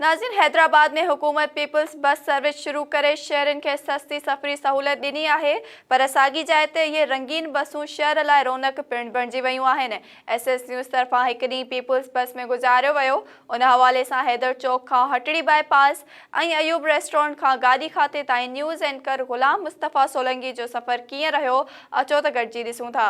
ناظرين حيدرآباد ۾ حڪومت peoples bus service شروع ڪري شهرين کي سستي سفري سهولت ڏني آهي پر ساڳي جاء تي اهي رنگين بسون شهر لاء رونق پڻ بڻجي ويون آهن ايس ايس نيوز طرفان هڪ ڏينهن پيپلز بس ۾ گذاريو ويو ان حوالي سان حيدر چوڪ کان Hatri bypass ۽ Ayub restaurant کان گاڏي کاتي تائين نيوز اينڪر غلام مصطفيٰ سولنگي جو سفر ڪيئن رهيو اچو ته گڏجي ڏسون ٿا.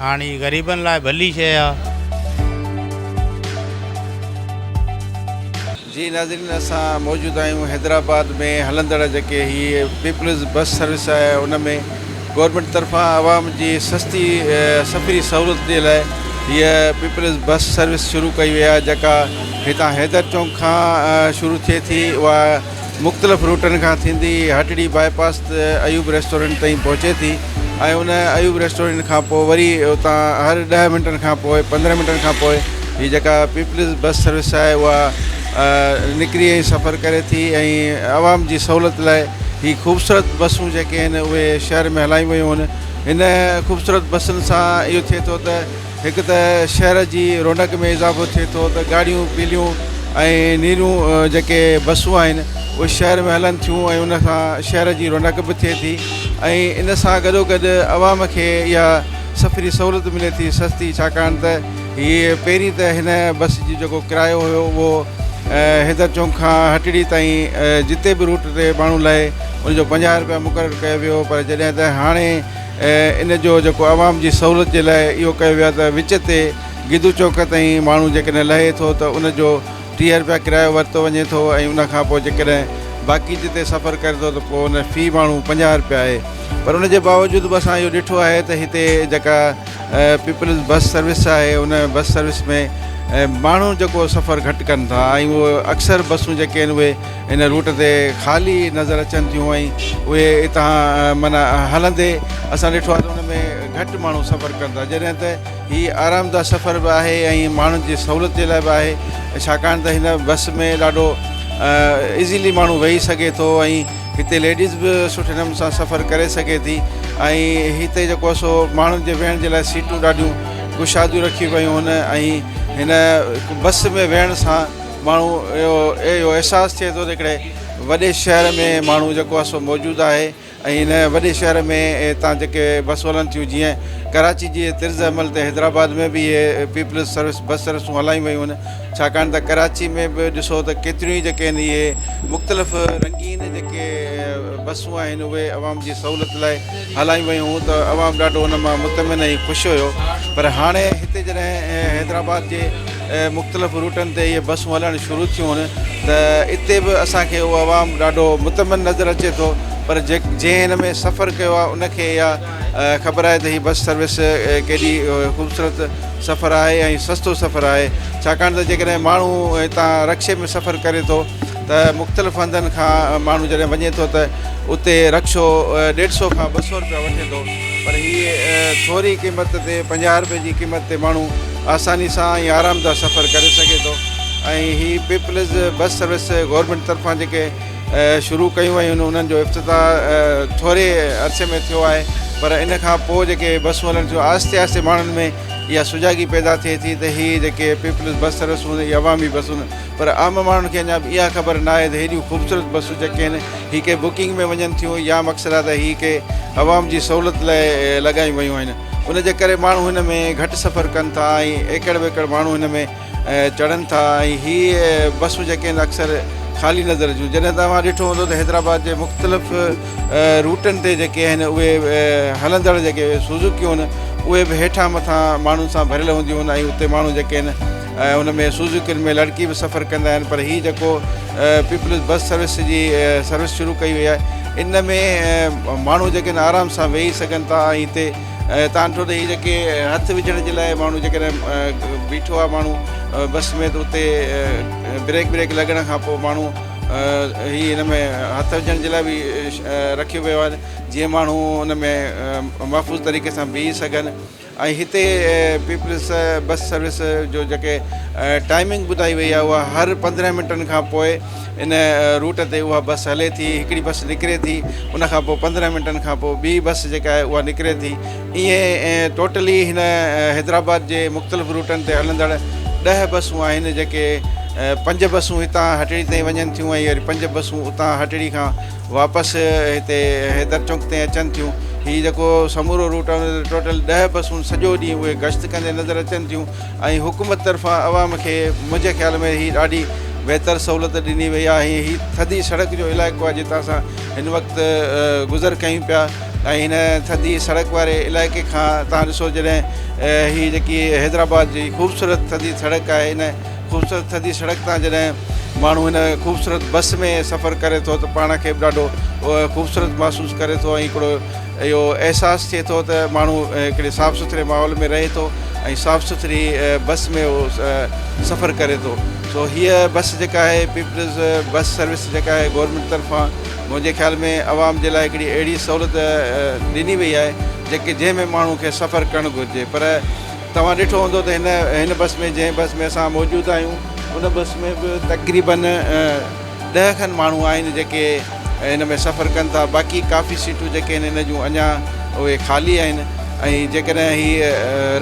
هاڻ هي غريبن لاء ڀلي شيء آ. جي ناظرين اسان موجود آهيون حيدرآباد ۾ هلندڙ جيڪي هي پيپلز بس سروس آهي ان ۾ گورنمينٽ طرفان عوام جي سستي سفري سهولت جي لاء هي پيپلز بس سروس شروع ڪئي وئي آهي جيڪا هتان حيدر چونڪ کان شروع ٿئي ٿي اها مختلف روٽن کان ٿيندي هٽڙي باء پاس تي ايوب ريسٽورنٽ تائين پهچي ٿي ۽ ان ايوب ريسٽورنٽ کان پوء وري اتان هر ڏهه منٽن کان پوء پندرهن منٽن کان پوء هي جيڪا پيپلز بس سروس آهي اها نڪري ۽ سفر ڪري ٿي ۽ عوام جي سهولت لاء هي خوبصورت بسون جيڪي آهن اهي شهر ۾ هلايون ويون آهن هن خوبصورت بسن سان اهو ٿئي ٿو ته هڪ ته شهر جي رونق ۾ اضافو ٿئي ٿو ته ڳاڙهيون پيليون ۽ نيرون جيڪي بسون آهن اهي شهر ۾ هلن ٿيون ۽ ان سان شهر جي رونق به ٿئي ٿي ۽ ان سان گڏو گڏ عوام کي اها سفري سهولت ملي ٿي سستي ڇاڪاڻ ته هي پهرين ته هن بس جي جيڪو ڪرايو هيو اهو حيدر چونڪ کان هٽڙي تائين جتي به روٽ تي ماڻهو لهي ان جو پنجاهه روپيا مقرر ڪيو ويو هو پر جڏهن ته هاڻي ۽ ان جو جيڪو عوام جي سهولت جي لاء اهو ڪيو ويو آهي ته وچ تي گدو چوڪ تائين ماڻهو جيڪڏهن لهي ٿو ته ان جو ٽيهه رپيا ڪرايو ورتو وڃي ٿو ۽ ان کانپوء جيڪڏهن باقي جتي سفر ڪري ٿو ته پوء ان في ماڻهو پنجاهه رپيا آهي پر ان جي باوجود به اسان اهو ڏٺو آهي ته هتي جيڪا پيپلز بس سروس آهي ان بس سروس ۾ ماڻهو جيڪو سفر گهٽ ڪن ٿا ۽ اهو اڪثر بسون جيڪي آهن اهي هن روٽ تي خالي نظر اچن ٿيون ۽ اهي اتان معنيٰ هلندي اسان ڏٺو آهي ته ان ۾ گهٽ ماڻهو سفر ڪن ٿا جڏهن ته هي آرامده سفر به آهي ۽ ماڻهن جي سهولت جي لاء به آهي ڇاڪاڻ ته هن بس ۾ ڏاڍو ايزيلي ماڻهو ويهي سگهي ٿو ۽ هتي ليڊيز به سٺي نموني سان سفر ڪري سگهي ٿي ۽ هتي جيڪو آهي سو ماڻهن جي ويهڻ جي لاء سيٽون ڏاڍيون ڪشاديون رکيون ويون هن ۽ هن بس ۾ ويهڻ سان ماڻهو اهو اهو احساس ٿئي ٿو ته هڪڙي وڏي شهر ۾ ماڻهو جيڪو آهي سو موجود آهي ۽ هن وڏي شهر ۾ هتان جيڪي بسون هلن ٿيون جيئن ڪراچي جي طرز عمل تي حيدرآباد ۾ به اهي پيپلز سروس بس سروسون هلايون ويون آهن ڇاڪاڻ ته ڪراچي ۾ به ڏسو ته ڪيتريون ئي جيڪي آهن اهي مختلف رنگين جيڪي بسون آهن اهي عوام جي سهولت لاء هلايون ويون ته عوام ڏاڍو ان مان مطمئن ۽ خوش هيو پر هاڻي هتي جڏهن حيدرآباد جي مختلف روٽن تي اهي بسون هلڻ شروع ٿيون ته اتي به اسان کي اهو عوام ڏاڍو مطمئن نظر اچي ٿو پر جنهن ان ۾ سفر ڪيو آهي ان کي اها خبر آهي ته هي بس سروس ڪيڏي خوبصورت سفر آهي ۽ سستو سفر آهي ڇاڪاڻ ته جيڪڏهن ماڻهو هتان رڪشي ۾ سفر ڪري ٿو ته مختلف هنڌن کان ماڻهو جڏهن وڃي ٿو ته اتي رڪشو ڏيڍ سو کان ٻه سو روپيا وٺي ٿو پر هي ٿوري قيمت تي پنجاهه روپئي جي قيمت تي ماڻهو آساني سان ۽ آرامده سفر ڪري سگهي ٿو ۽ هي پيپلز بس سروس گورنمينٽ طرفان جيڪي شروع ڪيون ويون آهن انهن جو افتتاح ٿوري عرصي ۾ ٿيو آهي پر ان کان پوء جيڪي بسون هلن ٿيون آهستي آهستي ماڻهن ۾ اها سجاڳي پيدا ٿئي ٿي ته هي جيڪي پيپلز بس سروس هوندي هي عوامي بس هوندي پر عام ماڻهن کي اڃا به اها خبر نه آهي ته هيڏيون خوبصورت بسون جيڪي آهن هي ڪنهن بڪنگ ۾ وڃن ٿيون يا مقصد آهي ته هي ڪنهن عوام جي سهولت لاء لڳايون ويون آهن ان جي ڪري ماڻهو هن ۾ گهٽ سفر ڪن ٿا ۽ ايڪڙ ويڪڙ ماڻهو هن ۾ چڙهن ٿا ۽ هي بسون جيڪي آهن اڪثر خالي نظر اچن جڏهن توهان ڏٺو هوندو ته حيدرآباد جي مختلف روٽن تي جيڪي آهن اهي هلندڙ جيڪي سوزوڪيون آهن اهي به هيٺان مٿان ماڻهن سان ڀريل هونديون آهن ۽ اتي ماڻهو جيڪي آهن ان ۾ سوزوڪين ۾ لڙڪي به سفر ڪندا آهن پر هي جيڪو پيپلز بس سروس جي سروس شروع ڪئي وئي آهي ان ۾ ماڻهو جيڪي آهن آرام سان ويهي سگهن ٿا ۽ هتي تان ٺو ته هي جيڪي هٿ وجهڻ جي لاء ماڻهو جيڪڏهن بيٺو آهي ماڻهو بس ۾ ته اتي بريڪ بريڪ لڳڻ کان پوء ماڻهو هي هن ۾ هٿ وجهڻ جي لاء به رکيو ويو آهي جيئن ماڻهو ان ۾ محفوظ طريقي سان بيهي سگهن ۽ هتي پيپلز بس سروس جو جيڪي ٽائمنگ ٻڌائي وئي آهي اها هر پندرهن منٽن کان پوء ان روٽ تي اها بس هلي ٿي هڪڙي بس نڪري ٿي ان کان پوء پندرهن منٽن کان پوء ٻي بس جيڪا آهي اها نڪري ٿي ائين ٽوٽلي هن حيدرآباد جي مختلف روٽن تي هلندڙ ڏهه بسون آهن جيڪي پنج بسون هتان هٽڙي تائين وڃن ٿيون ۽ وري پنج بسون اتان هٽڙي کان واپس هتي حيدر چونڪ تي اچن ٿيون هي جيڪو سمورو روٽ آهي ان تي ٽوٽل ڏهه بسون سڄو ڏينهن اهي گشت ڪندي نظر اچن ٿيون ۽ حڪومت طرفان عوام کي منهنجي خيال ۾ هي ڏاڍي بهتر سهولت ڏني وئي آهي ۽ هي ٿڌي سڙڪ جو علائقو آهي جتان اسان هن وقت گذر ڪيون پيا ۽ هن ٿڌي سڙڪ واري علائقي کان تان ڏسو جڏهن هي جيڪي حيدرآباد جي خوبصورت ٿڌي سڙڪ آهي هن خوبصورت ٿڌي سڙڪ تان جڏهن ماڻهو هن خوبصورت بس ۾ سفر ڪري ٿو ته پاڻ کي به ڏاڍو خوبصورت محسوس ڪري ٿو ۽ هڪڙو اهو احساس ٿئي ٿو ته ماڻهو هڪڙي صاف سٿري ماحول ۾ رهي ٿو ۽ صاف سٿري بس ۾ اهو سفر ڪري ٿو سو هيء بس جيڪا آهي پيپلز بس سروس جيڪا آهي گورنمينٽ طرفان منهنجي خيال ۾ عوام جي لاء هڪڙي اهڙي سهولت ڏني وئي آهي جيڪي جنهن ۾ ماڻهو کي سفر ڪرڻ گهرجي پر توهان ڏٺو هوندو ته هن هن بس ۾ جنهن بس ۾ اسان موجود آهيون ان بس ۾ به تقريبن ڏهه کن ماڻهو آهن جيڪي ان ۾ سفر ڪن ٿا باقي ڪافي سيٽون جيڪي آهن ان جون اڃا اهي خالي آهن ۽ جيڪڏهن هي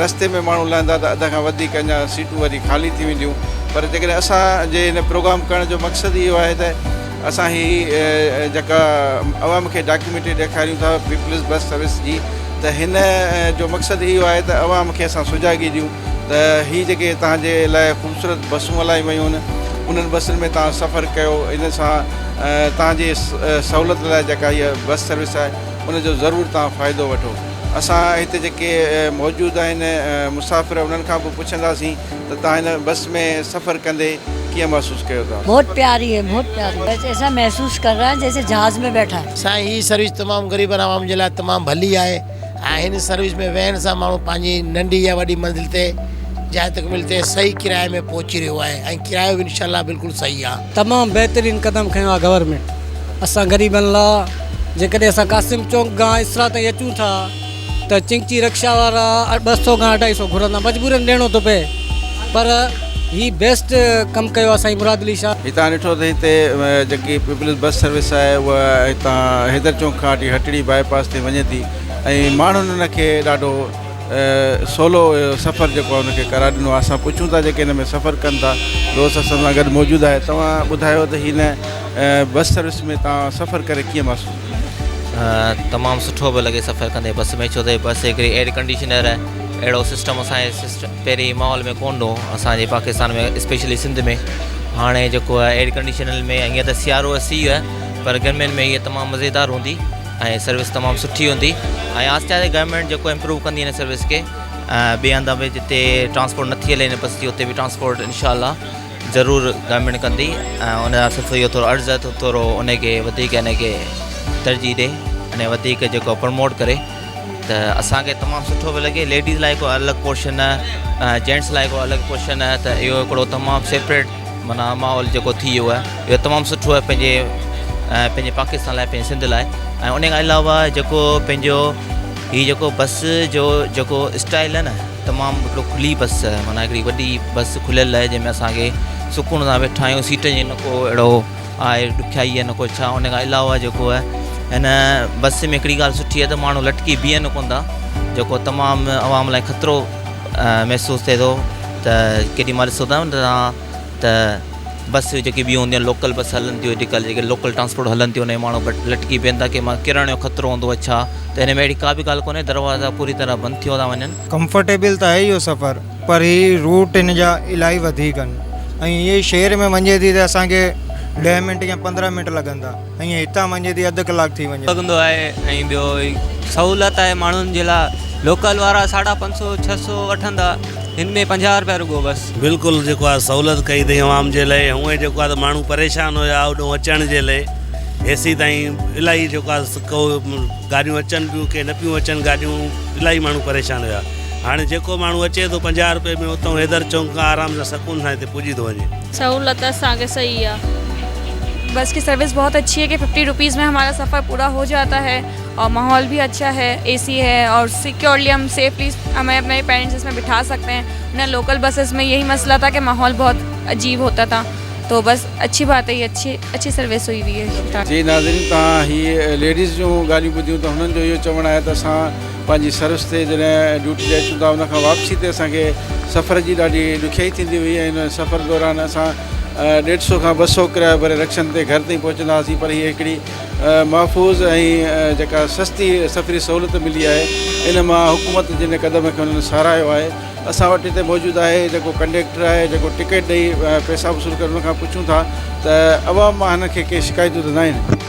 رستي ۾ ماڻهو لهندا ته اڌ کان وڌيڪ اڃا سيٽون وري خالي ٿي وينديون پر جيڪڏهن اسان جي هن پروگرام ڪرڻ جو مقصد اهو آهي ته اسان هي جيڪا عوام کي ڊاڪيومينٽري ڏيکاريون ٿا پيپلز بس سروس جي ته هن جو مقصد اهو آهي ته عوام کي اسان سجاڳي ڏيون ته هي جيڪي تهان جي لاء خوبصورت بسون هلايون ويون آهن انهن بسن ۾ تهان سفر ڪيو ان سان تهان جي سهولت لاء جيڪا هي بس سروس آهي ان جو ضرور تهان فائدو وٺو اسان هتي جيڪي موجود آهن مسافر انهن کان به پڇنداسين ته توهان هن بس ۾ سفر ڪندي ڪيئن محسوس ڪيو ٿا؟ بهت پياري هي بهت پياري بس ايسا محسوس ڪر رها هي جيسي جهاز ۾ بيٺا هي. سائين هي سروس تمام غريبن عوام جي لاء تمام ڀلي آهي ۽ هن سروس ۾ ويهڻ سان ماڻهو پنهنجي ننڍي يا وڏي منزل تي جاء تڪميل تي صحيح ڪرايي ۾ پهچي رهيو آهي ۽ ڪرايو به انشاء الله بلڪل صحيح آهي. تمام بهترين قدم کنيو آهي گورنمينٽ اسان غريبن لا جيڪڏهن اسان قاسم چونڪ گان اسرا تائين اچون ٿا. ته چنگچي رڪشا وارا ٻه سؤ کان اڍائي سؤ گهرندا مجبورن ڏيڻو ٿو پئي پر هي بيسٽ ڪم ڪيو آهي سائين مراد علي شاهه. هتان ڏٺو ته هتي جيڪي پيپلز بس سروس آهي اها هتان حيدر چونڪ کان وٺي هٽڙي باء پاس تائين وڃي ٿي ۽ ماڻهن ان کي ڏاڍو سولو سفر جيڪو آهي ان کي قرار ڏنو آهي اسان پڇون ٿا جيڪي ان ۾ سفر ڪن ٿا دوست اسان سان گڏ موجود آهي توهان ٻڌايو ته هن بس سروس ۾ توهان سفر ڪري ڪيئن محسوس تمام سٺو پيو لڳي سفر ڪندي بس ۾ ڇو ته بس هڪڙي ايئر ڪنڊيشنر اهڙو سسٽم اسان جي سسٽم پهرين ماحول ۾ ڪونه هو اسان جي پاڪستان ۾ اسپيشلي سنڌ ۾ هاڻي جيڪو آهي ايئر ڪنڊيشنل ۾ هيئن ته سيارو سي آهي پر گرمين ۾ هيء تمام مزيدار هوندي ۽ سروس تمام سٺي هوندي ۽ آهستي آهستي گورنمنٽ جيڪو امپروو ڪندي هن سروس کي ٻئي هنڌ به جتي ٽرانسپورٽ نٿي هلي هن بس جي اتي به ٽرانسپورٽ انشاء الله ضرور ڳامڙ ڪندي ۽ ان لاء صرف اهو ٿورو عرض آهي ته ٿورو ان کي وڌيڪ ان کي ترجيح ڏي ان وڌيڪ جيڪو پرموٽ ڪري ته اسانکي تمام سٺو به لڳي ليڊيز لاء هڪ الڳ پورشن جينٽس لاء هڪ الڳ پورشن آهي ته اهو هڪڙو تمام سيپريٽ معنيٰ ماحول جيڪو ٿي ويو آهي اهو تمام سٺو آهي پنهنجي پنهنجي پاڪستان لاء پنهنجي سنڌ لاء ۽ ان کان علاوه جيڪو پنهنجو هي جيڪو بس جو جيڪو اسٽائل آهي نه تمام هڪڙو کلي بس معنيٰ هڪڙي وڏي بس کليل آهي جنهن ۾ اسان کي سڪون سان ويٺا آهيون سيٽ جي نه ڪو اهڙو آهي ڏکيائي نه ڪو ڇا ان کان علاوه جيڪو آهي هن بس ۾ هڪڙي ڳالهه سٺي آهي ته ماڻهو لٽڪي بيهن ڪون ٿا جيڪو تمام عوام لاء خطرو محسوس ٿئي ٿو ته ڪيڏي مال ڏسو ته ته بس جيڪي ٻيون هونديون آهن لوڪل بس هلن ٿيون اڄڪلهه جيڪي لوڪل ٽرانسپورٽ هلن ٿيون ان ۾ ماڻهو لٽڪي پين ٿا ڪنهن مهل ڪرڻ جو خطرو هوندو آهي ڇا ته هن ۾ اهڙي ڪا به ڳالهه ڪونهي دروازا پوري طرح بند ٿيو ٿا وڃن. ڪمفرٽيبل ته آهي اهو سفر پر هي روٽ هن جا الاهي وڌيڪ آهن ۽ هي شهر ۾ وڃي ٿي ته اسانکي ڏهه منٽ يا پندرهن منٽ لڳندا. ائين هتان وڃي ٿي اڌ ڪلاڪ ٿي وڃي. سگهندو آهي ۽ ٻيو هي سهولت آهي ماڻهن جي لاء لوڪل وارا ساڍا پنج سو ڇهه سو وٺندا هن ۾ پنجاهه روپيا رڳو بس. بلڪل جيڪو آ سهولت ڪئي اٿئي عوام جي لئي هونء جيڪو آ ته ماڻهو پريشان هيا هوڏهون اچڻ جي لئي هيسي تائين الاهي جيڪو آ ڪو گاڏيون اچن پيون ڪي نه پيون اچن گاڏيون الاهي ماڻهو پريشان هيا هاڻي جيڪو ماڻهو اچي ٿو پنجاهه روپئي ۾ اتئون حيدر چونڪ کان آرام سان سڪون سان هتي پڄي ٿو وڃي. سهولت اسان کي صحيح آ. بس ڪي سروس بهت اڇي هي ڪي ففٽي روپيز مي همارا سفر پورا هو جاتا هي اور ماحول بهي اڇا هي اي سي هي اور سيڪيورلي هم سيفلي همي اپني پيرنٽس مي بٺا سڪته هي نه لوڪل بسس مي يهي مسئلا ٿا ڪي ماحول بهت عجيب هوتا ٿا تو بس اڇي بات هي اڇي اڇي سروس هئي وئي هي. جي ناظرين توهان هي ليڊيز جون ڳالهيون ٻڌيون ته هنن جو اهو چوڻ آهي ته اسان پنهنجي سروس تي جڏهن ڊيوٽي تي اچون ٿا ان کان واپسي تي اسان کي سفر جي ڏاڍي ڏکيائي ٿيندي هئي ۽ ان سفر دوران اسان ڏيڍ سئو کان ٻه سئو ڪرايو ڀري رڪشن تي گهر تائين پهچندا هئاسين پر هيء هڪڙي محفوظ ۽ جيڪا سستي سفري سهولت ملي آهي ان مان حڪومت جي ان قدم کي انهن ساراهيو آهي اسان وٽ هتي موجود آهي جيڪو ڪنڊيڪٽر آهي جيڪو ٽڪيٽ ڏئي پئسا وصول ڪري ان کان پڇون ٿا ته عوام مان هن کي ڪي شڪايتون ته ناهن.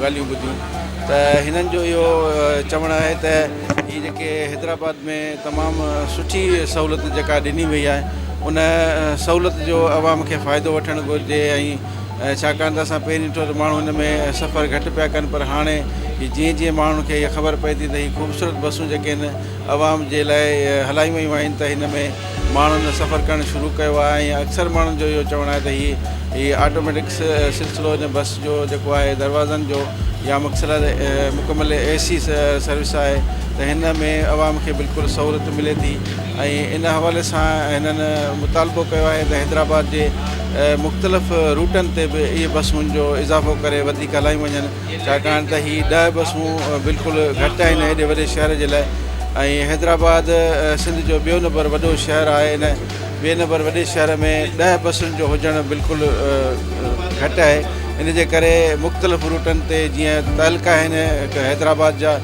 ڳالهيون ٻڌيون ته هنن جو اهو چوڻ آهي ته هي جيڪي حيدرآباد ۾ تمام سٺي سهولت جيڪا ڏني وئي آهي ان سهولت جو عوام کي فائدو وٺڻ گهرجي ۽ ڇاڪاڻ ته اسان پهرين ڏٺو ته ماڻهو هن ۾ سفر گهٽ پيا ڪن پر هاڻي جيئن جيئن ماڻهن کي اها خبر پئي ٿي ته هي خوبصورت بسون جيڪي آهن عوام جي لاء هلايون ويون آهن ته هن ۾ ماڻهن سفر ڪرڻ شروع ڪيو آهي ۽ اڪثر ماڻهن جو اهو چوڻ آهي ته هي هي آٽوميٽڪ سلسلو هن بس جو جيڪو آهي دروازن جو يا مڪسر مڪمل اي سي سروس آهي ته هن ۾ عوام کي بلڪل سهولت ملي ٿي ۽ ان حوالي سان هنن مطالبو ڪيو آهي ته حيدرآباد جي مختلف روٽن تي به اهي بسون جو اضافو ڪري وڌيڪ هلايون وڃن ڇاڪاڻ ته هي ڏهه بسون بلڪل گهٽ آهن هيڏي وڏي شهر جي لاء ۽ حيدرآباد سنڌ جو ٻيو نمبر وڏو شهر آهي ان ٻئي نمبر وڏي شهر ۾ ڏهه بسن جو هجڻ بلڪل گهٽ آهي ان جي ڪري مختلف روٽن تي جيئن تعلقا آهن حيدرآباد جا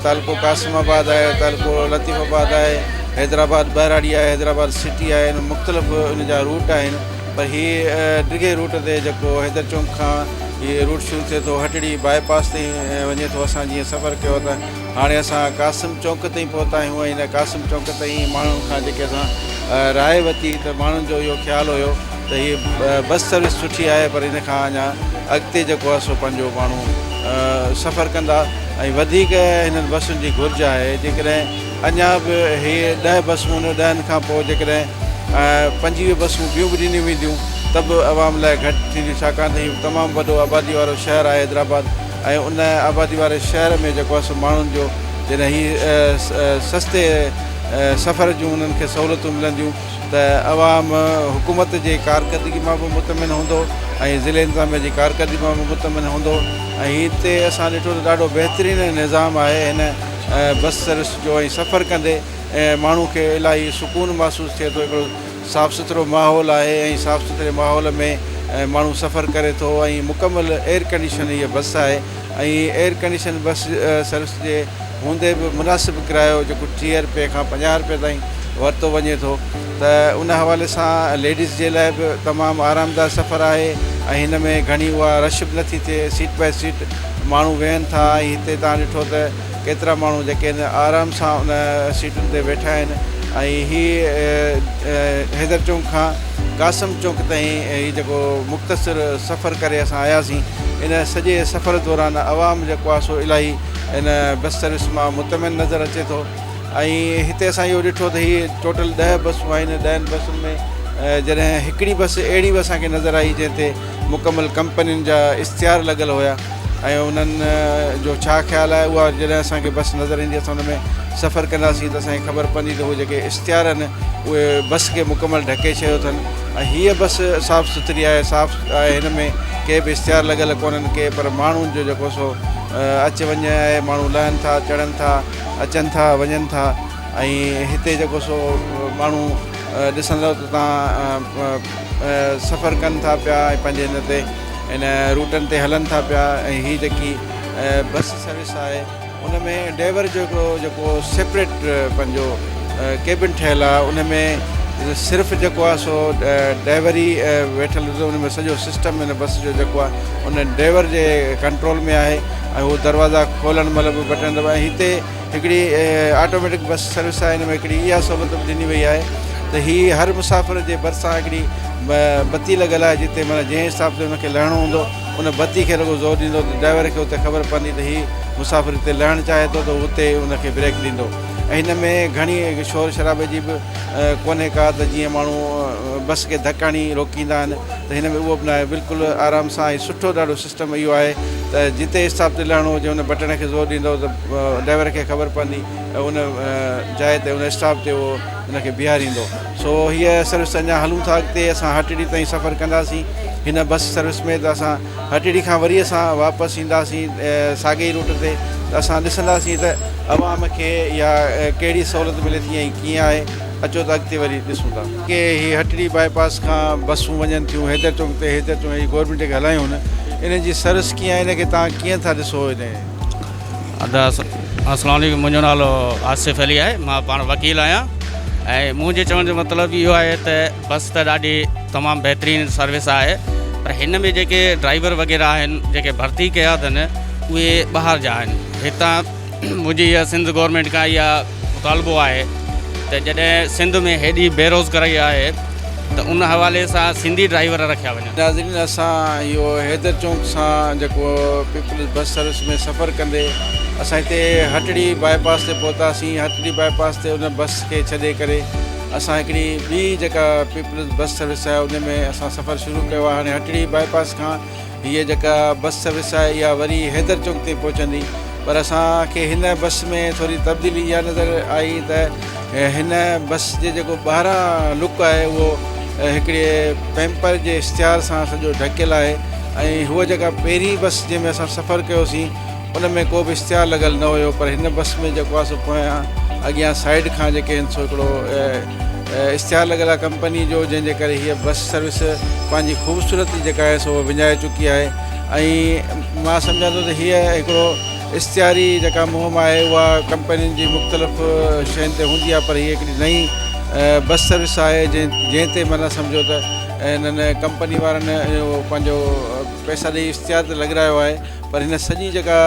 تعلقو قاسم آباد آهي تعلقو لطيف آباد آهي حيدرآباد ٻهراڙي آهي حيدرآباد سٽي آهي مختلف ان جا روٽ آهن پر هي ڊگهي روٽ تي جيڪو حيدر چونڪ کان هي روٽ شروع ٿئي ٿو هٽڙي باء پاس تائين ۽ وڃي ٿو اسان جيئن سفر ڪيو ته هاڻي اسان قاسم چونڪ تائين پهتا آهيون ۽ هن قاسم چونڪ تائين ماڻهن کان جيڪي اسان راء وتي ته ماڻهن جو اهو خيال هيو ته هي بس سروس سٺي آهي پر هن کان اڃا اڳتي جيڪو آهي سو پنهنجو ماڻهو سفر ڪندا ۽ وڌيڪ هنن بسن جي گهرج آهي جيڪڏهن اڃا به هي ڏهه بسون ان ڏهن کان پوء جيڪڏهن پنجويهه بسون ٻيون به ڏنيون وينديون ته به عوام لاء گهٽ ٿينديون ڇاڪاڻ ته هي تمام وڏو آبادي وارو شهر آهي حيدرآباد ۽ ان آبادي واري شهر ۾ جيڪو آهي سو ماڻهن جو جڏهن هي سستي سفر جون انهن کي سهولتون ملنديون ته عوام حڪومت جي ڪارڪردگي مان به مطمئن هوندو ۽ ضلعي انتظاميه جي ڪارڪردگي مان به مطمئن هوندو ۽ هتي اسان ڏٺو ته ڏاڍو بهترين نظام آهي هن بس سروس جو ۽ سفر ڪندي ماڻهو کي الاهي سڪون محسوس ٿئي ٿو هڪڙو صاف سٿرو ماحول آهي ۽ صاف سٿري ماحول ۾ ماڻهو سفر ڪري ٿو ۽ مڪمل ايئر ڪنڊيشن هيء بس آهي ۽ ايئر ڪنڊيشن بس سروس جي هوندي به مناسب ڪرايو جيڪو ٽيهه رپئي کان پنجاهه رپئي تائين ورتو وڃي ٿو ته ان حوالي سان ليڊيز جي لاء به تمام آرامده سفر آهي ۽ هن ۾ گهڻي اها رش به نٿي ٿئي سيٽ بائي سيٽ ماڻهو ويهن ٿا ۽ هتي توهان ڏٺو ته ڪيترا ماڻهو جيڪي هن آرام سان ان سيٽن تي ويٺا آهن ۽ هي حيدر چونڪ کان قاسم چونڪ تائين هي جيڪو مختصر سفر ڪري اسان آياسين ان سڄي سفر دوران عوام جيڪو آهي سو الاهي ان بس سروس مان مطمئن نظر اچي ٿو ۽ هتي اسان اهو ڏٺو ته هي ٽوٽل ڏهه بسون آهن ڏهن بسن ۾ جڏهن هڪڙي بس اهڙي به اسانکي نظر آئي جنهن تي مڪمل ڪمپنين جا اشتهار لڳل هيا ۽ انهن جو ڇا خيال آهي اها جڏهن اسان کي بس نظر ايندي اسان ان ۾ سفر ڪنداسين ته اسان کي خبر پوندي ته اهي جيڪي اشتهار آهن اهي بس کي مڪمل ڍڪي ڇڏيو اٿن ۽ هيء بس صاف سٿري آهي صاف آهي هن ۾ ڪي به اشتهار لڳل ڪونهن ڪي پر ماڻهن جو جيڪو سو اچ وڃ آهي ماڻهو لهن ٿا چڙهن ٿا اچن ٿا وڃن ٿا ۽ هتي جيڪو سو ماڻهو ڏسندو ته تان سفر ڪن ٿا پيا ۽ پنهنجي هن تي ان روٽن تي هلن ٿا پيا ۽ هي جيڪي بس سروس آهي ان ۾ ڊيور جو هڪڙو جيڪو سيپريٽ پنهنجو ڪيبن ٺهيل آهي ان ۾ صرف جيڪو آهي سو ڊيور ئي ويٺل هوندو ان ۾ سڄو سسٽم ان بس جو جيڪو آهي ان ڊيور جي ڪنٽرول ۾ آهي ۽ هو دروازا کولڻ مهل به بٽڻ دٻائي هتي هڪڙي آٽوميٽڪ بس سروس آهي ان ۾ هڪڙي اها سهولت به ڏني وئي آهي ته هي هر مسافر جي ڀرسان هڪڙي بتي لڳل آهي جتي معنيٰ جنهن حساب تي ان کي لهڻو هوندو ان بتي کي رڳو زور ڏيندو ته ڊرائيور کي اتي خبر پوندي ته هي مسافر هتي لهڻ چاهي ٿو ته اتي ان کي بريڪ ڏيندو ۽ هن ۾ گهڻي شور شرابي جي به ڪونهي ڪا ته جيئن ماڻهو بس کي ڌڪ هڻي روڪيندا آهن ته هن ۾ اهو به ناهي بلڪل آرام سان ۽ سٺو ڏاڍو سسٽم اهو آهي ته جتي اسٽاپ تي لهڻو هجي ان بٽڻ کي زور ڏيندو ته ڊرائيور کي خبر پوندي ۽ ان جاء تي ان اسٽاپ تي اهو ان کي بيهاريندو سو هيء سروس اڃا هلون ٿا اڳتي اسان هٽڙي تائين سفر ڪنداسين هن بس سروس ۾ ته اسان هٽڙي کان وري اسان واپس اينداسين ساڳي ئي روٽ تي ته اسان ڏسنداسين ته عوام کي يا ڪهڙي سهولت ملي ٿي ۽ ڪيئن آهي اچو ته اڳتي وري ڏسون ٿا. ڪي هي هٽڙي باء پاس کان بسون وڃن ٿيون حيدر چوڪ تي حيدر چون هي گورنمينٽ کي هلايون هن انهن جي سروس ڪيئن آهي ان کي توهان ڪيئن ٿا ڏسو انهي. ادا اسلام عليڪم منهنجو نالو آصف علي آهي مان پاڻ وڪيل آهيان ۽ منهنجي چوڻ جو مطلب اهو آهي ته بس ته ڏاڍي تمام بهترين سروس آهي پر هن ۾ جيڪي ڊرائيور وغيره آهن جيڪي ڀرتي ڪيا اٿن اهي ٻاهر جا آهن هتان منهنجي اها سنڌ گورنمينٽ کان اها مطالبو آهي ته جڏهن سنڌ ۾ هيڏي بيروزگاري آهي ته ان حوالي سان سنڌي ڊرائيور رکيا وڃن. ناظرين اسان اهو حيدر چونڪ سان جيڪو پيپلز بس سروس ۾ سفر ڪندي اسان هتي هٽڙي باء پاس تي پهتاسين هٽڙي باء پاس تي ان بس کي ڇڏي ڪري اسان هڪڙي ٻي جيڪا پيپلز بس سروس آهي ان ۾ اسان سفر شروع ڪيو آهي هاڻي هٽڙي باء پاس کان هيء جيڪا بس سروس آهي اها وري حيدر چوڪ تي پهچندي پر اسان کي هن بس ۾ ٿوري تبديلي اها نظر آئي ته هن بس جي جيڪو ٻاهران لڪ آهي اهو هڪڙي پيمپر جي اشتهار سان سڄو ڍڪيل آهي ۽ هوء جيڪا پهرين بس جنهن ۾ اسان سفر ڪيوسين ان ۾ ڪو به اشتهار لڳل نه هيو پر هن بس ۾ جيڪو آهي سو پويان اڳيان سائيڊ کان جيڪي هن سو هڪڙو اشتهار لڳل آهي ڪمپني جو جنهن جي ڪري هيء بس سروس پنهنجي خوبصورتي جيڪا آهي سو وڃائي چڪي آهي ۽ مان سمجهان ٿو ته هيء هڪڙو اشتهاري جيڪا مهم آهي اها ڪمپنين جي مختلف شين تي هوندي آهي پر هيء هڪڙي نئين بس سروس آهي جنهن جنهن تي معنيٰ سمجهو ته هنن ڪمپني وارن اهو پنهنجو پئسا ڏئي اشتهار ته لڳرايو آهي پر هن سڄي جيڪا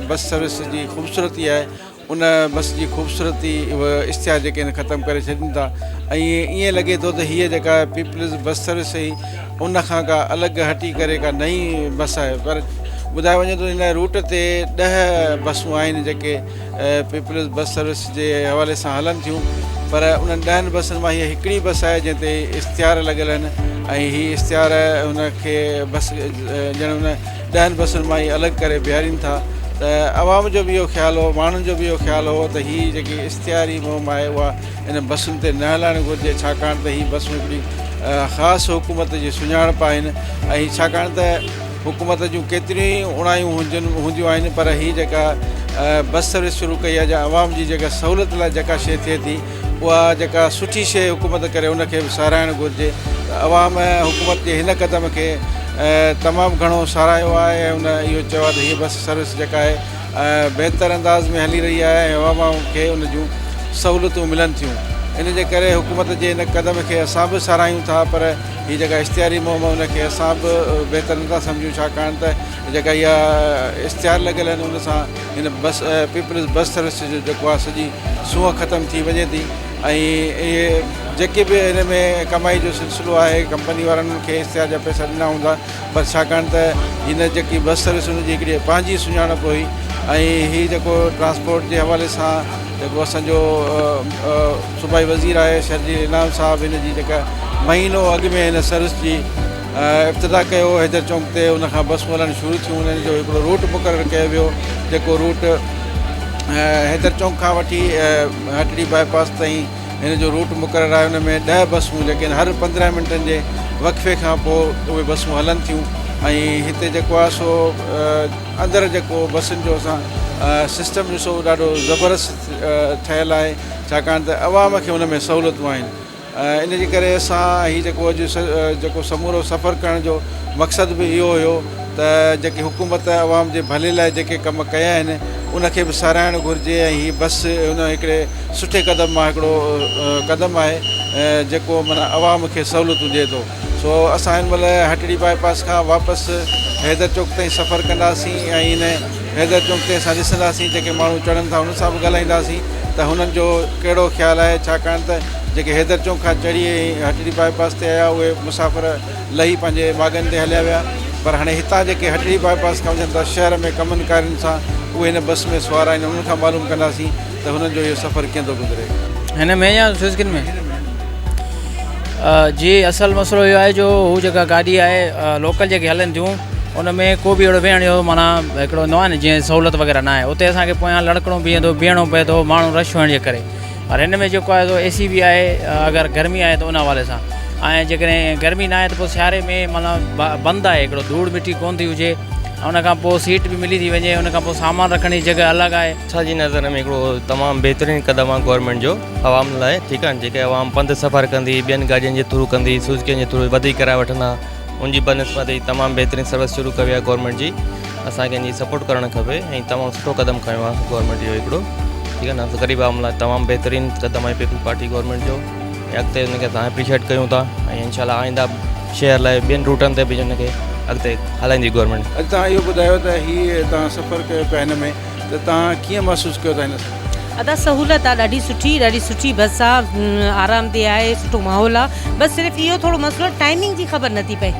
بس سروس جي خوبصورتي آهي ان بس جي خوبصورتي اشتهار جيڪي آهن ختم ڪري ڇڏين ٿا ۽ ائين لڳي ٿو ته هيء جيڪا پيپلز بس سروس هئي ان کان ڪا الڳ هٽي ڪري ڪا نئين بس آهي پر ٻڌايو وڃي ٿو هن روٽ تي ڏهه بسون آهن جيڪي پيپلز بس سروس جي حوالي سان هلن ٿيون پر انهن ڏهن بسن مان هيء هڪڙي بس آهي جنهن تي اشتهار لڳل آهن ۽ هي اشتهار ان کي بس ڄڻ ان ڏهن بسن مان ئي الڳ ڪري بيهارين ٿا ته عوام جو به اهو خيال هو ماڻهن جو به اهو خيال هو ته هي جيڪي اشتهاري مهم آهي اها انهن بسن تي نه هلائڻ گهرجي ڇاڪاڻ ته هي بسون هڪڙي خاص حڪومت جي سڃاڻپ آهن ۽ ڇاڪاڻ ته حڪومت جون ڪيتريون ئي اوڻايون هجن هونديون آهن پر هي جيڪا بس سروس شروع ڪئي آهي جا عوام جي جيڪا سهولت لاء جيڪا شيء ٿئي ٿي اها جيڪا سٺي شيء حڪومت ڪري ان کي به ساراهڻ گهرجي ته عوام حڪومت جي هن قدم کي تمام گهڻو ساراهيو آهي ۽ ان اهو چيو آهي ته هيء بس سروس جيڪا آهي بهتر انداز ۾ هلي رهي آهي ۽ عوام کي ان جون سهولتون ملن ٿيون ان جي ڪري حڪومت جي ان قدم کي اسان به ساراهيون ٿا پر هي جيڪا اشتهاري مهم ان کي اسان به بهتر نٿا سمجهون ڇاڪاڻ ته جيڪا اها اشتهار لڳل آهن ان سان هن بس پيپلز بس سروس جو جيڪو آهي سڄي سونهن ختم ٿي وڃي ٿي ۽ اهي جيڪي به هن ۾ ڪمائي جو سلسلو آهي ڪمپني وارن کي اشتهار جا پئسا ڏنا هوندا پر ڇاڪاڻ ته هن جيڪي بس سروس هن جي هڪڙي پنهنجي سڃاڻپ هئي ۽ هي جيڪو ٽرانسپورٽ جي حوالي سان جيڪو اسانجو صوبائي وزير آهي شرجيل انعام صاحب هن جي جيڪا مهينو اڳ ۾ هن سروس جي افتتاح ڪيو حيدر چونڪ تي ان کان بسون هلڻ شروع ٿيون انهن جو هڪڙو روٽ مقرر ڪيو ويو جيڪو روٽ حيدر چونڪ کان وٺي هٽڙي باء پاس تائين هن جو روٽ مقرر آهي ان ۾ ڏهه بسون جيڪي آهن هر پندرهن منٽن جي وقفي کان پوء اهي بسون هلن ٿيون ۽ هتي جيڪو آهي سو اندر جيڪو بسن جو اسان سسٽم ڏسو ڏاڍو زبردست ٺهيل آهي ڇاڪاڻ ته عوام کي ان ۾ سهولتون آهن ان جي ڪري اسان هي جيڪو اڄ جيڪو سمورو سفر ڪرڻ جو مقصد به اهو هيو ته جيڪي حڪومت عوام جي ڀلي لاء جيڪي ڪم ڪيا آهن ان کي به ساراهڻ گهرجي ۽ هي بس ان هڪڙي سٺي قدم مان هڪڙو قدم آهي جيڪو معنيٰ عوام کي سهولتون ڏي ٿو سو اسان هن مهل هٽڙي باء پاس کان واپس حيدر چوڪ تائين سفر ڪنداسين ۽ هن حيدر چوڪ تي اسان ڏسنداسين جيڪي ماڻهو چڙهن ٿا انهن سان به ڳالهائينداسين ته هنن جو ڪهڙو خيال آهي ڇاڪاڻ ته جيڪي حيدر چوڪ کان چڙهي هٽڙي باء پاس تي آيا اهي مسافر لهي پنهنجي ماڳن تي هليا ويا پر هاڻي هتان جيڪي هٽڙي باء پاس کان وڃن ٿا شهر ۾ ڪمن ڪارين سان اهي هن بس ۾ سوار آهن انهن کان معلوم ڪنداسين ته هنن جو اهو سفر ڪيئن ٿو گذري. هن ۾ يا فزڪن ۾؟ جي اصل مسئلو اهو آهي جو هو جيڪا گاڏي آهي لوڪل جيڪي هلن ٿيون ان ۾ ڪو به اهڙو ويهڻ جو معنيٰ هڪڙو هوندو آهي نه جيئن سهولت وغيره نه آهي اتي اسان کي پويان لڙڪڻو پئي ٿو بيهڻو پئي ٿو ماڻهو رش هئڻ جي ڪري پر هن ۾ جيڪو آهي سو اي سي به آهي اگر گرمي آهي ته ان حوالي سان ۽ جيڪڏهن گرمي نه آهي ته پوء سياري ۾ معنيٰ بند آهي هڪڙو ڌوڙ مٽي ڪون ٿي هجي ان کان پوء سيٽ به ملي ٿي وڃي ان کان پوء سامان رکڻ جي جڳهه الڳ آهي اسان جي نظر ۾ هڪڙو تمام بهترين قدم آهي گورنمينٽ جو عوام لاء ٺيڪ آهي جيڪي عوام پنڌ سفر ڪندي ٻين گاڏين جي ٿرو ڪندي سوزڪين جي ٿرو وڌيڪ ڪرايو وٺندا ان جي بنسبت هي تمام بهترين سروس شروع ڪئي آهي گورنمينٽ جي اسان کي ان جي سپورٽ ڪرڻ کپي ۽ تمام سٺو قدم کنيو آهي گورنمينٽ جو هڪڙو ٺيڪ آهي نه غريب عوام لاء تمام بهترين قدم آهي پيپلز پارٽي گورنمينٽ جو ۽ اڳتي ان کي اسان اپريشيٽ ڪيون ٿا ۽ ان شاء الله آئنده شهر لاء ٻين روٽن تي به ان کي اڳتي هلائيندي گورنمينٽ اڳتان اهو ٻڌايو ته هي تان سفر ڪيو پهن ۾ ته توهان ڪيئن محسوس ڪيو ٿا هن سفر کي؟ ادا سهولت آ ڏاڍي سٺي ڏاڍي سٺي بس آ آرام دي آهي سٺو ماحول آ بس صرف اهو ٿورو مسئلو ٽائمنگ جي خبر نٿي پئي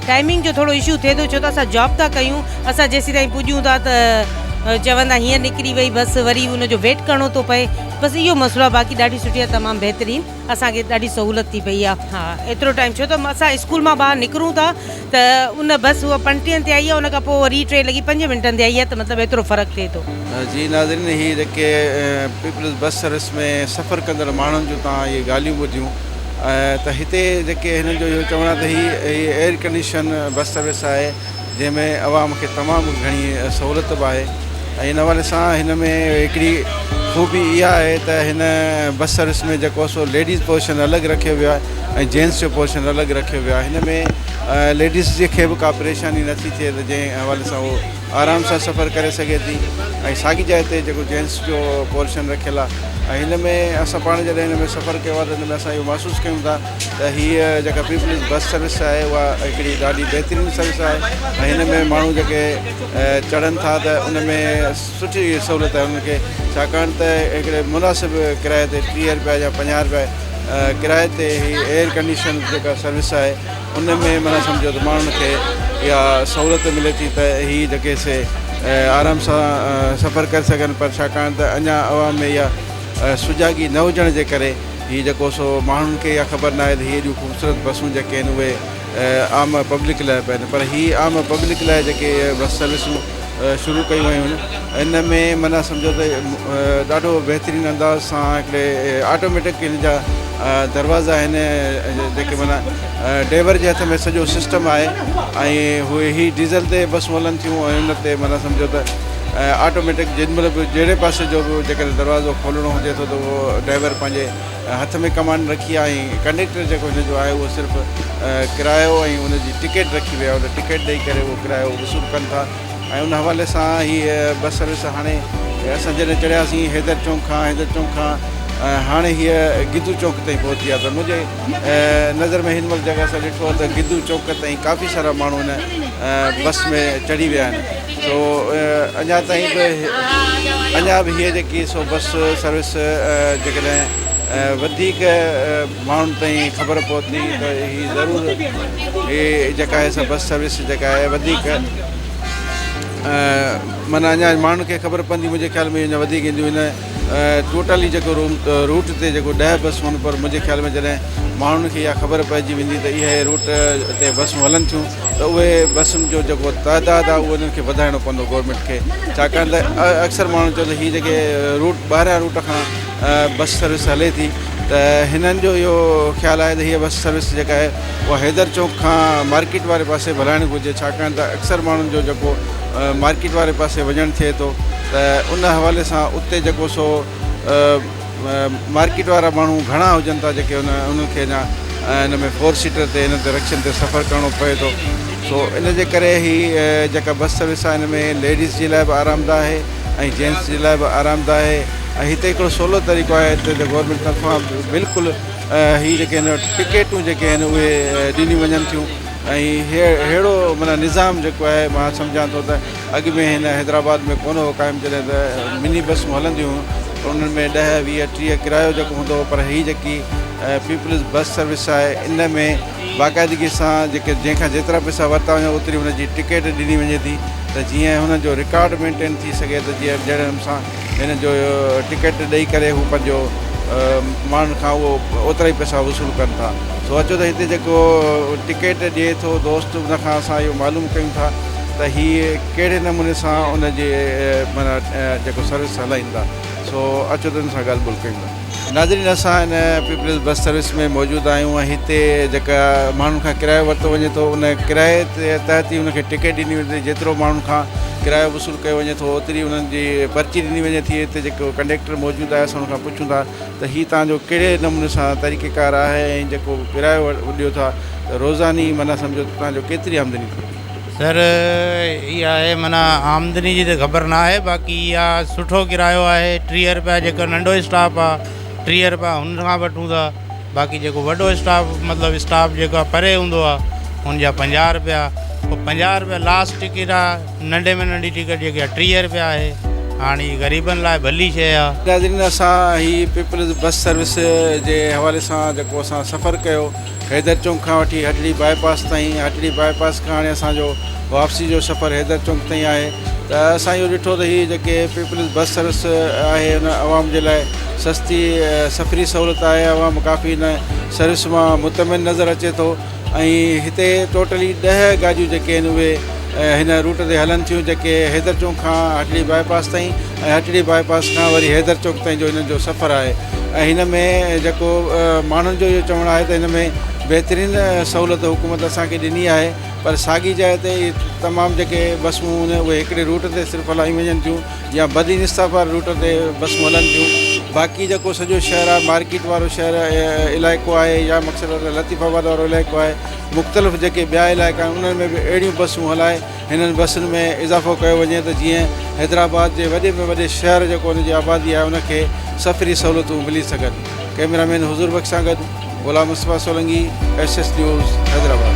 ٽائمنگ جو ٿورو اشو ٿئي ٿو ڇو ته اسان جاب ٿا ڪيون اسان جيسين تائين پڄون ٿا ته چوندا هينئر نڪري وئي بس وري ان جو ويٽ ڪرڻو ٿو پئي بس اهو مسئلو آ باقي ڏاڍي سٺي آ تمام بهترين. اسان کي ڏاڍي سهولت ٿي پئي آهي ها ايترو ٽائيم ڇو ته اسان اسڪول مان ٻاهر نڪرون ٿا ته ان بس اها پنٽين تي آئي آهي ان کان پوء وري ٽي لڳي پنج منٽن تي آئي آهي ته مطلب ايترو فرق ٿئي ٿو. جي ناظرين هي جيڪي پيپلز بس سروس ۾ سفر ڪندڙ ماڻهن جون توهان اهي ڳالهيون ٻڌيون ته هتي جيڪي هنن جو اهو چوڻ آهي ته هي ايئر ڪنڊيشن بس سروس آهي جنهن ۾ عوام کي تمام گهڻي سهولت به آهي ۽ ان حوالي سان هن ۾ هڪڙي خوبي اها آهي ته هن بس سروس ۾ جيڪو سو ليڊيز پوزيشن الڳ رکيو ويو آهي ۽ جينس جو پوزيشن الڳ رکيو ويو آهي هن ۾ ليڊيز جي کي به ڪا پريشاني نه ٿي ٿئي ته جنهن حوالي سان هو آرام سان سفر ڪري سگهي ٿي ۽ ساڳي جاء تي جيڪو جينس جو پوزيشن رکيل آهي ۽ هن ۾ اسان پاڻ جڏهن هن ۾ سفر ڪيو آهي ته هن ۾ اسان اهو محسوس ڪيون ٿا ته هيء جيڪا پيپلز بس سروس آهي اها هڪڙي ڏاڍي بهترين سروس آهي ۽ هن ۾ ماڻهو جيڪي چڙهن ٿا ته ان ۾ سٺي سهولت آهي انهن کي ڇاڪاڻ ته هڪڙي مناسب ڪرايي تي ٽيهه رپيا يا پنجاهه رپيا ڪرايي تي هي ايئر ڪنڊيشن جيڪا سروس آهي ان ۾ معنيٰ سمجهو ته ماڻهن کي اها سهولت ملي ٿي ته هي جيڪي سي آرام سان سفر ڪري سگهن پر ڇاڪاڻ ته اڃا عوام ۾ اها سجاڳي نه هجڻ جي ڪري هي جيڪو سو ماڻهن کي اها خبر ناهي ته هي ايڏيون خوبصورت بسون جيڪي آهن اهي عام پبلڪ لاء به آهن پر هي عام پبلڪ لاء جيڪي بس سروسون شروع ڪيون ويون آهن ان ۾ معنيٰ سمجهو ته ڏاڍو بهترين انداز سان هڪڙي آٽوميٽڪ ان جا دروازا آهن جيڪي معنيٰ ڊيور جي هٿ ۾ سڄو سسٽم آهي ۽ هي ڊيزل تي بسون هلن ٿيون ۽ ان تي معنيٰ سمجهو ته ۽ آٽوميٽڪ جنھن مھل به جهڙي پاسي جو به جيڪڏھن دروازو کولڻو هجي ٿو ته اهو ڊرائيور پنھنجي هٿ ۾ ڪمانڊ رکي آ ۽ ڪنڊيڪٽر جيڪو هن جو آهي اهو صرف ڪرايو ۽ ان جي ٽڪيٽ رکي ويا ان ٽڪيٽ ڏئي ڪري اهو ڪرايو وصول ڪن ٿا ۽ ان حوالي سان هي بس سروس هاڻي اسان جڏهن چڙهياسين حيدر چونڪ کان حيدر چونڪ کان هاڻي هيء گدو چونڪ تائين پهتي آ ته منھنجي نظر ۾ هن مھل جيڪا اسان ڏٺو آ ته گدو چونڪ تائين ڪافي سارا ماڻھو هن بس ۾ چڙهي ويا آهن سو اڃا تائين به اڃا به هي جيڪي سو بس سروس جيڪڏهن وڌيڪ ماڻهن تائين خبر پهتي ته هي ضرور هي جيڪا آهي سا بس سروس جيڪا آهي وڌيڪ مانا اڃا ماڻهن کي خبر پوندي منهنجي خيال ۾ اڃا وڌيڪ اينديون هن ٽوٽلي جيڪو روٽ تي جيڪو ڏهه بسون هن پر منهنجي خيال ۾ جڏهن ماڻهن کي اها خبر پئجي ويندي ته اهي روٽ تي بسون هلن ٿيون ته اهي بسن جو جيڪو تعداد آهي اهو انهن کي وڌائڻو پوندو گورنمينٽ کي ڇاڪاڻ ته اڪثر ماڻهن چيو ته هي جيڪي روٽ ٻاهريان روٽ کان بس سروس هلي ٿي ته هنن جو اهو خيال آهي ته هي بس سروس جيڪا آهي اها حيدر چونڪ کان مارڪيٽ واري پاسي به هلائڻ گهرجي ڇاڪاڻ ته اڪثر ماڻهن جو جيڪو مارڪيٽ واري پاسي وڃڻ ٿئي ٿو ته ان حوالي سان اتي جيڪو سو مارڪيٽ وارا ماڻهو گهڻا هجن ٿا جيڪي ان انهن کي اڃا ان ۾ فور سيٽر تي هن تي رڪشن تي سفر ڪرڻو پئي ٿو سو ان جي ڪري هي جيڪا بس سروس آهي هن ۾ ليڊيز جي لاء به آرام ده آهي ۽ جينٽس جي لاء به آرام ده آهي ۽ هتي هڪڙو سولو طريقو آهي هتي ته گورنمينٽ طرفان بلڪل هي جيڪي هن ٽڪيٽون جيڪي آهن اهي ڏنيون وڃن ٿيون ۽ ههڙو معنيٰ نظام جيڪو آهي مان سمجهان ٿو ته اڳ ۾ هن حيدرآباد ۾ ڪونه هو قائم جڏهن ته مني بسون هلنديون هيون پر انهن ۾ ڏهه ويهه ٽيهه ڪرايو جيڪو هوندو هو پر هي جيڪي پيپلز بس سروس آهي ان ۾ باقاعدگي سان جيڪي جنهن کان جيترا پئسا ورتا وڃن اوتري هن جي ٽڪيٽ ڏني وڃي ٿي ته جيئن هن جو رڪارڊ مينٽين ٿي سگهي ته جيئن جهڙن سان هن جو ٽڪيٽ ڏئي ڪري هو پنهنجو ماڻهن کان اهو اوترا ئي پئسا وصول ڪن ٿا سو اچو ته هتي جيڪو ٽڪيٽ ڏئي ٿو دوست ان کان اسان اهو معلوم ڪيون ٿا ته هي ڪهڙي نموني سان ان جي معنيٰ جيڪو سروس هلائين ٿا سو اچو ته ان سان ڳالهه ٻولهه ڪيون ٿا ناظرين اسان هن پيپلز بس سروس ۾ موجود آهيون ۽ هتي جيڪا ماڻهن کان ڪرايو ورتو وڃي ٿو ان ڪرائي تحت ئي ان کي ٽڪيٽ ڏني وڃي ٿي جيترو ماڻهن کان ڪرايو وصول ڪيو وڃي ٿو اوتري انهن جي پرچي ڏني وڃي ٿي هتي جيڪو ڪنڊيڪٽر موجود آهي اسان ان کان پڇون ٿا ته هي تان جو ڪهڙي نموني سان طريقي ڪار آهي ۽ جيڪو ڪرايو ڏيو ٿا روزاني معنيٰ سمجهو ته تان جو ڪيتري آمدني ٿيندي سر اها آهي معنيٰ آمدني جي ته خبر نه آهي باقي اها سٺو ڪرايو آهي ٽيهه رپيا جيڪو ننڍو اسٽاف آهي ٽيهه رپيا هن کان وٺون ٿا باقي جيڪو وڏو اسٽاف مطلب اسٽاف جيڪو آهي پري هوندو آهي هن جا پنجاهه رپيا پوء پنجاهه رپيا لاسٽ ٽڪيٽ آهي ننڍي ۾ ننڍي ٽڪيٽ جيڪي آهي ٽيهه رپيا آهي هاڻ هي غريبن لاء ڀلي شيء آهي. ناظرين اسان هي پيپلز بس سروس جي حوالي سان جيڪو اسان سفر ڪيو حيدر چونڪ کان وٺي هٽڙي باء پاس تائين ۽ هٽڙي باء پاس کان هاڻي اسان جو واپسي جو سفر حيدر چونڪ تائين آهي ته اسان اهو ڏٺو ته هي جيڪي پيپلز بس سروس آهي ان عوام جي لاء سستي سفري سهولت آهي عوام ڪافي ان سروس مان مطمئن نظر اچي ٿو ۽ هتي ٽوٽلي ڏهه گاڏيون جيڪي آهن اهي هن روٽ تي هلن ٿيون جيڪي حيدر چونڪ کان هٽڙي باء پاس تائين ۽ هٽڙي باء پاس کان وري حيدر چوڪ تائين جو هنن جو سفر آهي ۽ هن ۾ جيڪو ماڻهن جو اهو چوڻ آهي ته هن ۾ بهترين سهولت حڪومت اسان کي ڏني آهي پر ساڳي جاء تي تمام جيڪي بسون هن اهي هڪڙي روٽ تي صرف هلايون وڃن ٿيون يا بدين انصاف واري روٽ تي بسون هلن ٿيون باقي جيڪو سڄو شهر آهي مارڪيٽ وارو شهر علائقو آهي يا مقصد لطيف آباد وارو علائقو آهي مختلف جيڪي ٻيا علائقا آهن انهن ۾ به اهڙيون بسون هلائي هنن بسن ۾ اضافو ڪيو وڃي ته جيئن حيدرآباد جي وڏي ۾ وڏي شهر جيڪو ان جي آبادي آهي ان کي سفري سهولتون ملي سگهن ڪئميرا مين حضور بخش سان گڏ Ghulam Mustafa Solangi S S news Hyderabad.